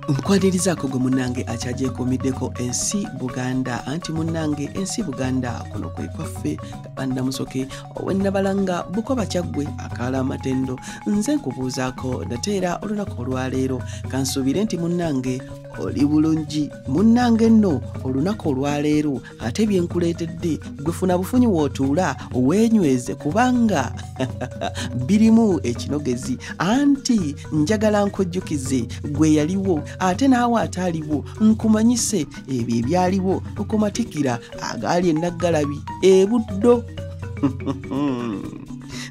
nkwanirizaako gwe munnange akyagyekomiddeko ensi buganda anti munnange ensi buganda kuno kwe kwaffe kabanda musoke owennabalanga bukoba kyaggwe akaala amatendo nze nkubuuzaako nate era olunaku olwaleero kansuubire nti munnange oli bulungi munnange nno olunaku olwaleero ate byenkuleetedde gwe funa bufunyi wootuula weenyweze kubanga birimu ekinogezi anti njagala nkujjukize gwe yaliwo ate naawe ataaliwo nkumanyise ebyo ebyaliwo okumatikira agaali enaggalabi ebuddo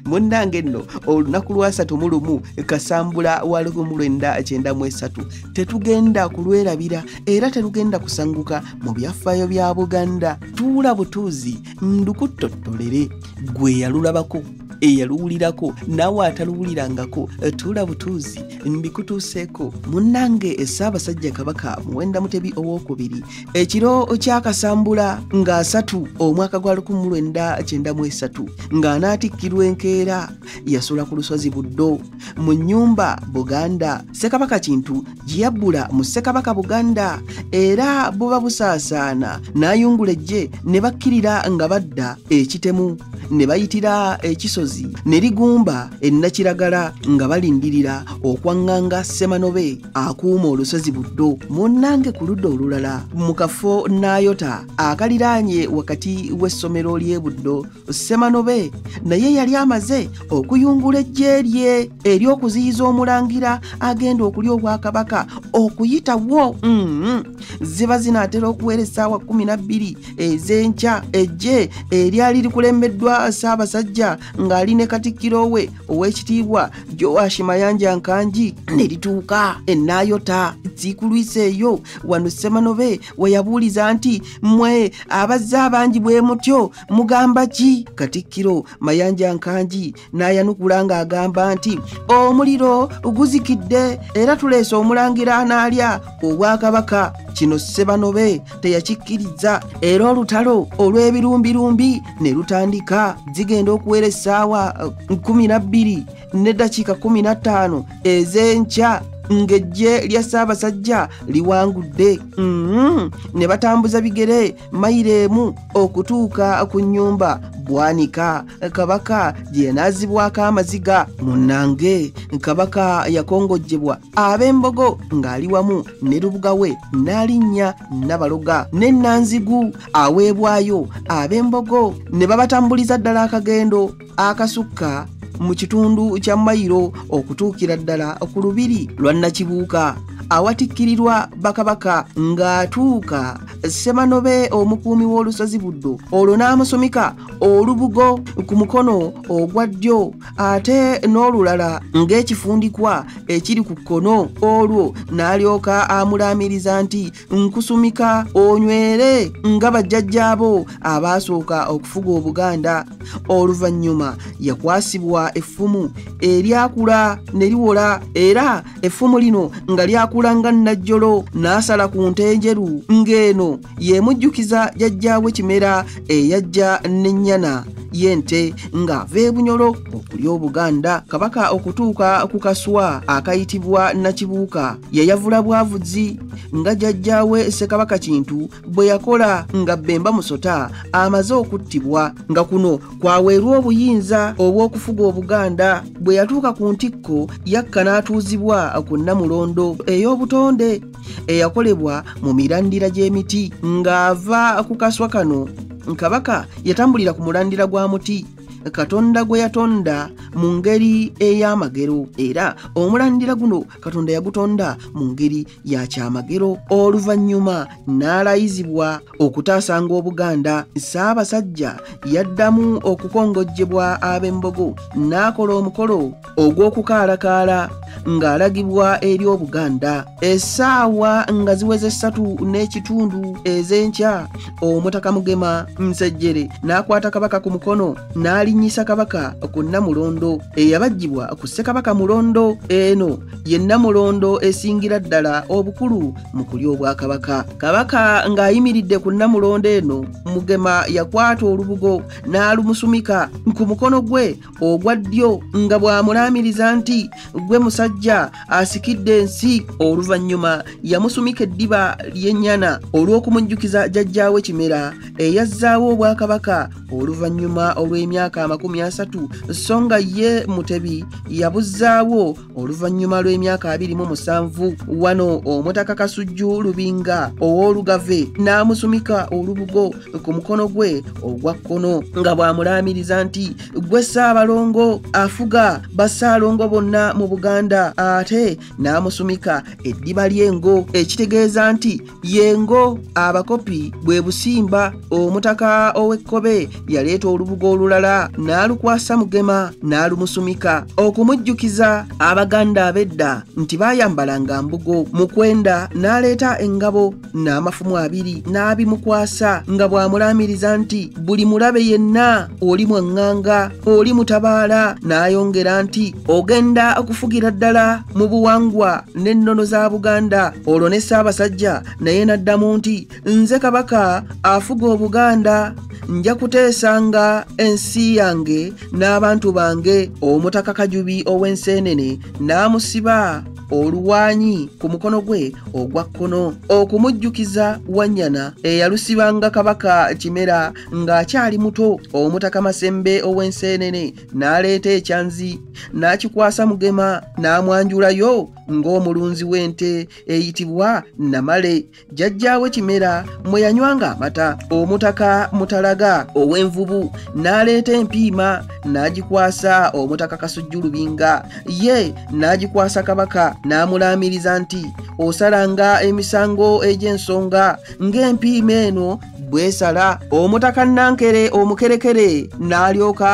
munnange nno olunaku lwasatu mu lumu kasambula wa lumu lwenda kyenda mu esatu tetugenda kulwerabira era terugenda kusanguka mu byafaayo bya buganda tuula butuuzi ndukuttottolere gwe yalulabako eyaluwulirako naawe ataluwulirangako eh, tuula butuuzi mbikutuuseeko munnange essaabasajja kabaka muwenda mutebi owokubiri ekiro kyakasambula nga asatu omwaka gwa 1993 ng'anaatikkirwa enkeera yasula ku lusozi buddo mu nnyumba buganda ssekabaka kintu gye yabbula mu ssekabaka buganda era buba busaasaana n'ayungula ejje ne bakkirira nga badda ekitemu ne bayitira ekisozi ne ligumba ennakiragala nga balindirira okwaŋŋanga ssemanobe akuuma olusozi buddo munnange ku ludda olulala mu kafo n'ayota akaliraanye wakati w'essomero ly'e buddo ssemanobe naye yali amaze okuyungula ejje lye ery'okuziyiza omulangira agenda okulya obwakabaka okuyitawo mm-hmm. ziba zinaatera okuwera essaawa 12 ez'enkya ejje eryali likulembeddwa ssaabasajja ng'ali ne katikkiro we ow'ekitiibwa joashi mayanja nkangi ne lituuka enaayota zikulwisa eyo wano ssemanobe weyabuuliza nti mwe abazze abangi bwe mutyo mugamba ki katikkiro mayanja nkangi n'ayanukula ng'agamba nti omuliro guzikidde era tuleese omulangira anaalya obwakabaka kino ssebanobe teyakikkiriza era olutalo olw'ebirumbirumbi ne lutandika zigenda okuwera essaawa 12 eh, n'eddakiika 15 ez'enkya ng'ejje lya ssaabasajja liwangudde mm-hmm. ne batambuza bigere mayiro emu okutuuka ku nnyumba bwanika kabaka gye yanaazibwako amaziga munnange kabaka yakongojjebwa ab'embogo ng'ali wamu ne lubuga we n'alinnya nabaloga ne nanzigu aweebwayo ab'embogo ne babatambuliza ddala akagendo akasukka mu kitundu kya mayiro okutuukira ddala ku lubiri lwa nakibuuka awatikkirirwa bakabaka ng'atuuka semanobe omukuumi w'olusozi buddo olwo n'amusumika olubugo ku mukono ogwa ddyo ate n'olulala ng'ekifundikwa ekiri ku kkono olwo n'alyoka amulaamiriza nti nkusumika onywere nga bajjajjaabo abaasooka okufuga obuganda oluvannyuma yakwasibwa effumu eryakula ne liwola era effumu lino nga lyakula nga nnajjolo n'asala ku nte enjeru ng'eno yemujjukiza jajjaawe kimera eyajja n'ennyana y'ente ng'ava ebunyolo okulya obuganda kabaka okutuuka ku kaswa akayitibwa nakibuuka yayavula bwavuzi nga jajjaawe ssekabaka kintu bwe yakola nga bemba musota amaze okuttibwa nga kuno kwaweerwa obuyinza obw'okufuga obuganda bwe yatuuka ku ntikko yakka n'atuuzibwa ku nnamulondo ey'obutonde eyakolebwa mu mirandira gy'emiti ng'ava ku kaswa kano kabaka yatambulira ku mulandira gwa muti katonda gwe yatonda mu ngeri ey'amagero era omulandira guno katonda yagutonda mu ngeri ya kyamagero oluvannyuma n'alayizibwa okutaasanga obuganda ssaabasajja yaddamu okukongojjebwa ab'embogo n'akola omukolo ogw'okukaalakaala ng'alagibwa eri obuganda essaawa nga ziweze ssatu n'ekitundu ez'enkya Omutaka Mugema Nsejjere n'akwata Kabaka ku mukono n'alinnyisa Kabaka ku Nnamulondo eyabajjibwa ku Ssekabaka Mulondo. Eno ye Nnamulondo esingira ddala obukulu mu kulya Obwakabaka. Kabaka ng'ayimiridde ku Nnamulondo eno, Mugema yakwata olubugo n'alumusumika ku mukono gwe ogwa ddyo nga bw'amulaamiriza nti gwe musajja asikidde ensi oluvannyuma yamusumika eddiba ly'ennyana olw'okumujjukiza jajjaawe kimera eyazzaawo obwakabaka oluvannyuma olw'emyaka amakumi asatu so nga ye mutebi yabuzzaawo oluvannyuma lw'emyaka abiri mu musanvu wano omutaka kasujju lubinga ow'olugave n'amusumika olubugo ku mukono gwe ogwa kkono nga bw'amulaamiriza nti gwe ssaabalongo afuga bassaalongo bonna mu buganda ate n'amusumika eddiba ly'engo ekitegeeza nti yengo abakopi bwe busimba omutaka ow'ekkobe yaleeta olubugo olulala n'alukwasa mugema n'alumusumika okumujjukiza abaganda ab'edda nti baayambalanga mbugo mukwenda n'aleeta engabo n'amafumu abiri n'abimukwasa nga bw'amulaamiriza nti buli mulabe yenna oli mwaŋŋanga oli mutabaala n'ayongera nti ogenda okufugira ddala mu buwangwa n'ennono za buganda olwo ne ssaabasajja naye n'addamu nti nze kabaka afuga obuganda nja kuteesanga ensi yange n'abantu bange omutaka kajubi ow'enseenene n'amusiba oluwanyi ku mukono gwe ogwa kkono okumujjukiza wanyana eyalusibanga kabaka kimera ng'akyali muto omutaka masembe ow'enseenene n'aleeta ekyanzi n'akikwasa mugema n'amwanjulayo ng'omulunzi w'ente eyitibwa namale jjajjaawe kimera mwe yanywanga amata omutaka mutalaga ow'envubu n'aleeta empiima n'agikwasa omutaka kasujju lubinga ye n'agikwasa kabaka n'amulaamiriza nti osalanga emisango egy'ensonga ng'empiima eno bwesala omutaka nankere omukerekere n'alyoka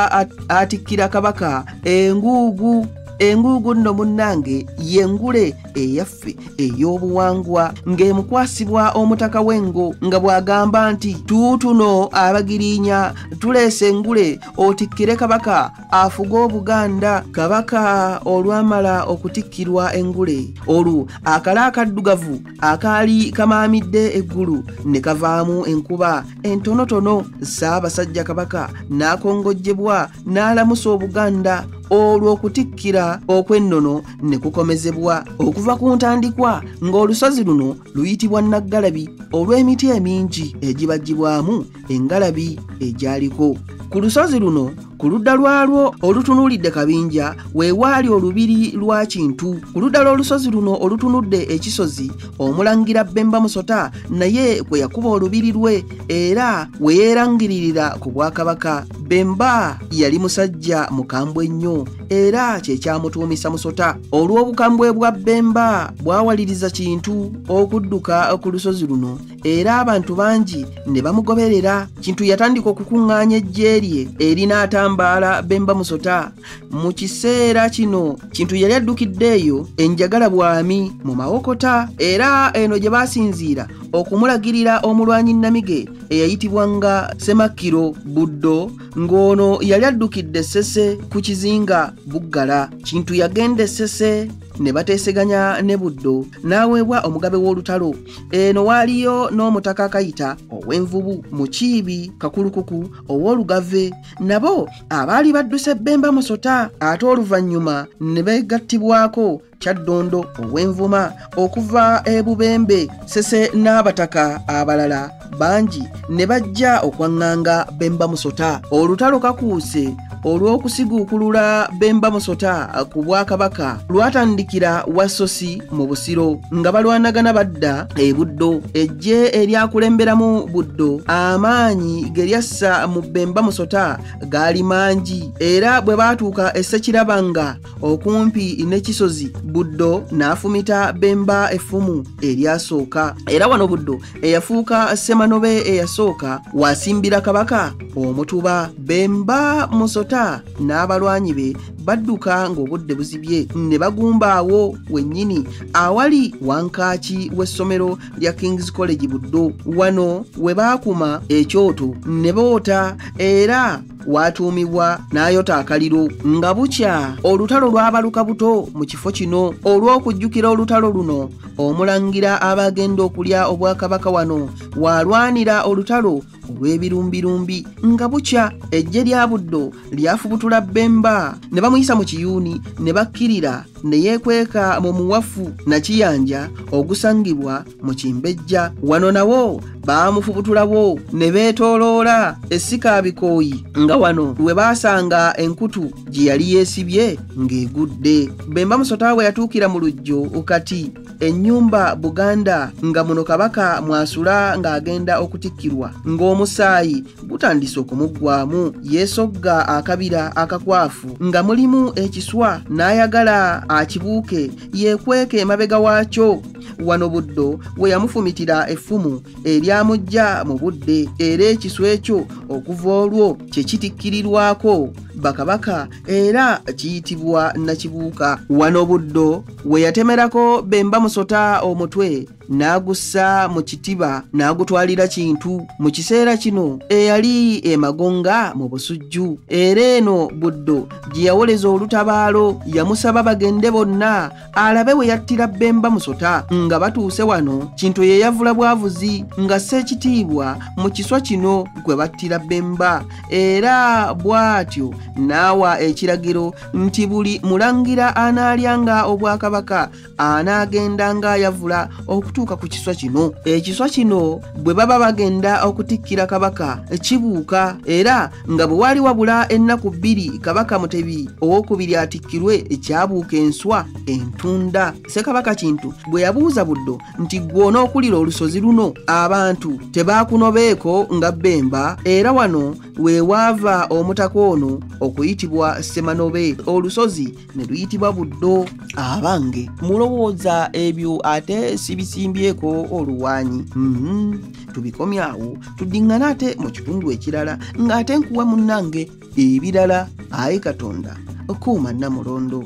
atikkira kabaka enguugu enguugu nno munnange yengule eyaffe ey'obuwangwa ng'emukwasibwa omutaka w'engo nga bw'agamba nti tuutuno abagirinya tuleese engule otikkire kabaka afuge obuganda kabaka olwamala okutikkirwa engule olwo akala akaddugavu akaali kamaamidde eggulu ne kavaamu enkuba entonotono ssaabasajja kabaka n'akongojjebwa n'alamusa obuganda olwo okutikkira okw'ennono ne kukomezebwa okuva ku ntandikwa ng'olusozi luno luyitibwa naggalabi olw'emiti emingi egibagibwamu engalabi egyaliko ku lusozi luno ku ludda lwalwo olutunuulidde kabinja weewaali olubiri lwa kintu ku ludda lw'olusozi luno olutunudde ekisozi omulangira bemba musota naye kwe yakuba olubiri lwe era we yeerangiririra ku bwakabaka bemba yali musajja mukambwe ennyo era kye kyamutuumisa musota olw'obukambwe bwa bemba bwawaliriza kintu okudduka ku lusozi luno era abantu bangi ne bamugoberera kintu yatandika okukuŋŋaanya eggye lye erinaatambaala bemba musota mu kiseera kino kintu yali addukidde eyo enjagala bwami mu mawokota era eno gye baasinziira okumulagirira omulwanyi namige eyayitibwa nga semakkiro buddo ng'ono yali addukidde sese ku kizinga buggala kintu yagenda esese ne bateeseganya ne buddo n'aweebwa omugabe w'olutalo eno waaliyo n'omutaka akayita ow'envubu mukiibi kakulukuku ow'olugave nabo abaali badduse bbemba musota ate oluvannyuma ne beegattibwako kyaddondo ow'envuma okuva e bubembe sese n'abataka abalala bangi ne bajja okwaŋŋanga bemba musota olutalo kakuuse olw'okusiguukulula bemba musota ku bwakabaka lwatandikira wasosi mu busiro nga balwanagana badda e buddo ejje eryakulemberamu buddo amaanyi ge lyassa mu bemba musota gaali mangi era bwe baatuuka essekirabanga okumpi n'ekisozi buddo n'afumita bemba effumu eryasooka era wano buddo eyafuuka semanobe eyasooka wasimbira kabaka omutuba bemba musota n'abalwanyi be badduka ng'obudde buzibye ne bagumba awo wennyini awali wankaaki w'essomero lya kings college buddo wano we baakuma ekyoto ne boota era waatuumibwa n'ayota akaliro nga bukya olutalo lwabaluka buto mu kifo kino olw'okujjukira olutalo luno omulangira abagenda okulya obwakabaka wano waalwanira olutalo olw'ebirumbirumbi nga bukya ejje lya buddo lyafubutula bemba ne bamuyisa mu kiyuuni ne bakkirira ne yeekweka mu muwafu nakiyanja ogusangibwa mu kimbejja wano nawo baamufubutulawo ne beetooloola essika bikooyi nga wano we baasanga enkutu gye yali yeesibye ng'egudde bemba musota we yatuukira mu lujjo kati ennyumba buganda nga muno kabaka mwasula ng'agenda okutikkirwa ng'omusaayi gutandise okumuggwamu yeesogga akabira akakwafu nga mulimu ekiswa n'ayagala akibuuke yeekweke emabega waakyo wano buddo we yamufumitira effumu eryamujja mu budde era ekisu ekyo okuva olwo kye kitikkirirwako bakabaka era kiyitibwa nakibuuka wano buddo we yatemerako bemba musota omutwe n'agussa mu kitiba n'agutwalira kintu mu kiseera kino eyali emagonga mu busujju era eno buddo gye yawoleza olutabaalo yamusaba bagende bonna alabe we yattira Bemba Musota nga batuuse wano Kintu ye yavula bwavuzi nga ssekitiibwa mu kiswa kino gwe battira Bemba era bw'atyo n'awa ekiragiro nti buli mulangira anaalyanga obwakabaka anaagenda ng'ayavula okutuuka ku kiswa kino ekiswa kino bwe baba bagenda okutikkira kabaka kibuuka era nga bwe waali wabula ennaku bbiri kabaka mutebi owokubiri atikkirwe ekyabuuka enswa entunda ssekabaka kintu bwe yabuuza buddo nti gwe onookulira olusozi luno abantu tebaakunobeeko nga bbemba era wano we waava omutaka ono okuyitibwa ssemanobe olusozi ne luyitibwa buddo abange mulowooza ebyo ate sibisimbyeko oluwaanyi mhm. tubikomye awo tuddiŋŋana ate mu kitundu ekirala ng'ate nkuwa munnange ebirala ayi katonda kuuma namulondo